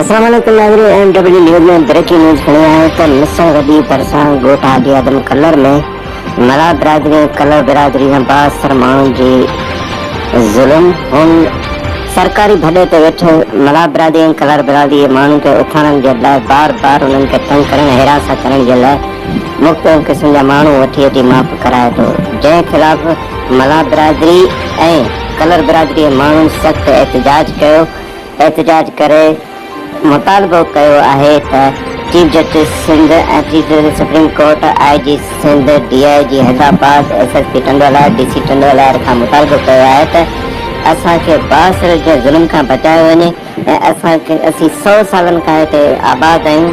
اسلام عليڪم ناظرين M W news ۾ breaking news کڻي آيا آهيون ته مصر وڏي ڀرسان ڳوٺ آدي آدم ڪلر ۾ ملاح برادري ۽ ڪلر برادري جا بااثر ماڻهن جي ظلم هن سرڪاري ڀڏي تي ويٺل ملاح برادري ۽ ڪلر برادري جي ماڻهن کي اٿارڻ جي لاء بار بار انهن کي تنگ ڪرڻ حراس ڪرڻ جي لاء مختلف قسم جا ماڻهو وٺي وٺي معاف ڪرائي ٿو جنهن خلاف ملاح برادري ۽ ڪلر برادري ماڻهن سخت احتجاج ڪيو احتجاج ڪري مطالبو ڪيو آهي ته chief justice Sindh ۽ chief justice supreme court I G Sindh D I G Hyderabad S S P Tando Allahyar D C Tando Allahyar کان مطالبو ڪيو آهي ته اسان کي بااثر جي ظلم کان بچايو وڃي ۽ اسان کي اسين سئو سالن کان هتي آباد آهيون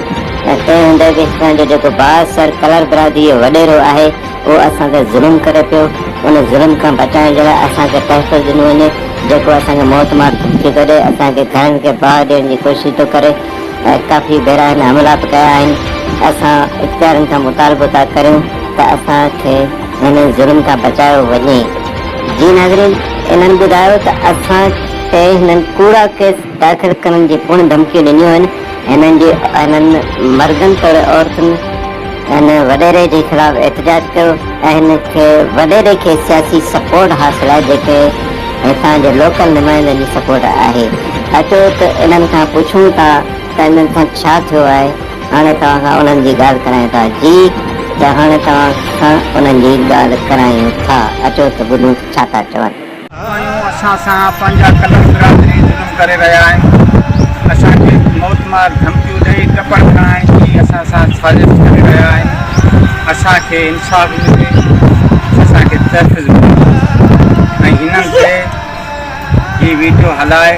۽ تنهن هوندي به هتان جو جيڪو با سر ڪلر برادري جو وڏيرو آهي اهو اسان تي ظلم ڪري پيو ان ظلم کان بچائڻ جي لاء اسان کي تحفظ ڏنو وڃي جيڪو اسان کي موت مار ٿي ڪڍي اسان کي گهرن کي باهه ڏيڻ جي ڪوشش ٿو ڪري ۽ ڪافي ڀيرا هن حملا به ڪيا آهن اسان اختيارين کان مطالبو ٿا ڪريون ته اسان کي هن ظلم کان بچايو وڃي. جي ناظرين انهن ٻڌايو ته اسان تي هنن ڪوڙا ڪيس داخل ڪرڻ جي پڻ ڌمڪيون ڏنيون آهن، هنن جي هنن مردن توڙي عورتن هن وڏيري جي خلاف احتجاج ڪيو ۽ هن کي وڏيري کي سياسي سپورٽ حاصل آهي جيڪي هتان جي لوڪل نمائندن جي سپورٽ آهي اچو ته انهن کان پڇون ٿا ته انهن سان ڇا ٿيو آهي هاڻي توهان کان انهن جي ڳالهه ڪرايون ٿا جي ته هاڻي توهان کان انهن جي ڳالهه ڪرايون ٿا اچو ته ٻڌون ته ڇا ٿا چون. ماڻهو اسان سان پنهنجا قلم برادري ظلم ڪري رهيا آهن اسان کي موت مار ڌمڪيون ڏئي ٽپڙ کڻائڻ جي اسان سان سازش ڪري رهيا آهن اسان کي انصاف ملي اسان کي تحفظ ملي ۽ هنن کي هي ويڊيو هلائي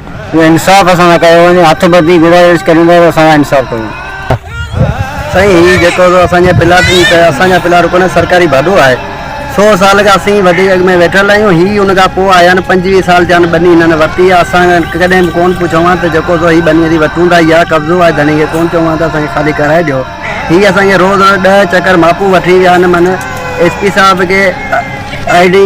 جو انصاف اسان سان ڪيو وڃي هٿ ٻڌي گذارش ڪريون ٿا ته اسان سان انصاف ڪيو. سائين هي جيڪو به اسان جي پلاٽ جي ته اسان جا پلاٽ ڪونهن سرڪاري ڀاڏو آهي سو سال کان اسين وڏي اڳ ۾ ويٺل آهيون هي ان کان پوء آيا آهن پنجويهه سال ٿيا آهن ٻني هنن ورتي آهي اسان کان ڪڏهن به ڪونهن پڇيو آهن ته جيڪو سو هي ٻني اسين ورتون ٿا يا قبضو آهي ڌڻي کي ڪونهن چيو آهن ته اسان کي خالي ڪرائي ڏيو هي اسان کي روز روز ڏهه چڪر ماپون وٺي ويا آهن من ايس پي صاحب کي آئي ڊي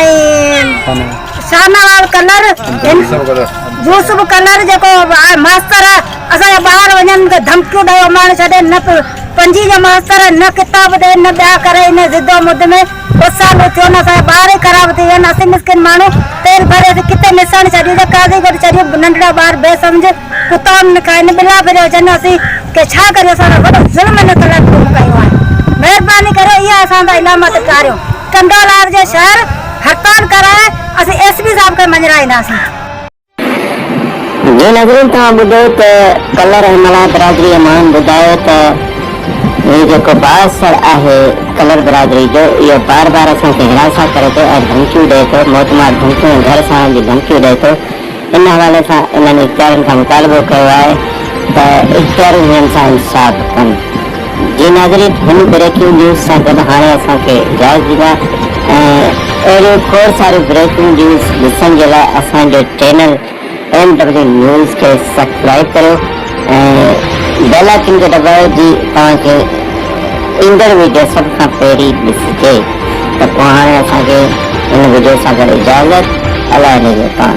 ۽ شاهنواز ڪلر هن يوسف ڪلر جيڪو ماستر اسان جا ٻاهر وڃن ته ڌمڪيون ڏئي اماڻي ڇڏي نه پنجي جو ماستر نه ڪتاب ڏي نه ٻيا ڪري ان ضدو مد ۾ ٻه سال ٿيون اسان جا ٻار ئي خراب ٿي ويا آهن اسين مسڪين ماڻهو تيل ڀري اسين ڪٿي ميساڻي ڇڏيون ته قاضي گڏ ڇڏيون ننڍڙا ٻار بي سمجھ ڪتا نه کائن ٻلا ڦريا اچن اسين کي ڇا ڪريون اسان سان وڏو ظلم هن ڪلر قوم ڪيو آهي مهرباني ڪري اها اسان تان علامت ٽاريو. ٽنڊوالهيار جي شهر هڙتال ڪرائي اسين ايس پي صاحب کي مڃرائينداسين. جي ناظرين توهان ٻڌو ته ڪلهه رحيم الله برادري مان ٻڌايو ته هي جيڪو بااثر آهي ڪلر برادري جو اهو بار بار اسان کي هراسان ڪري ٿو ۽ ڌمڪيون ڏئي ٿو موت مار ڌمڪيون ۽ گهر ساڙڻ جون ڌمڪيون ڏئي ٿو ان حوالي سان انهن اختيارين کان مطالبو ڪيو آهي ته اختياري هنن سان انصاف ڪن. جي ناظرين هن بريڪنگ نيوز سان گڏ هاڻي اسان کي اجازت ڏيندا ۽ اهڙيون کوڙ ساريون بريڪنگ نيوز ڏسڻ جي لاء اسان جي چينل ايم ڊبليو نيوز کي سبسڪرائب ڪريو ۽ بيل آئيڪن کي دٻايو جي توهان کي ايندڙ ويڊيو سڀ کان پهرين ڏسجي ته پوء هاڻي اسان کي هن وڊيو سان گڏ اجازت الله نگهبان.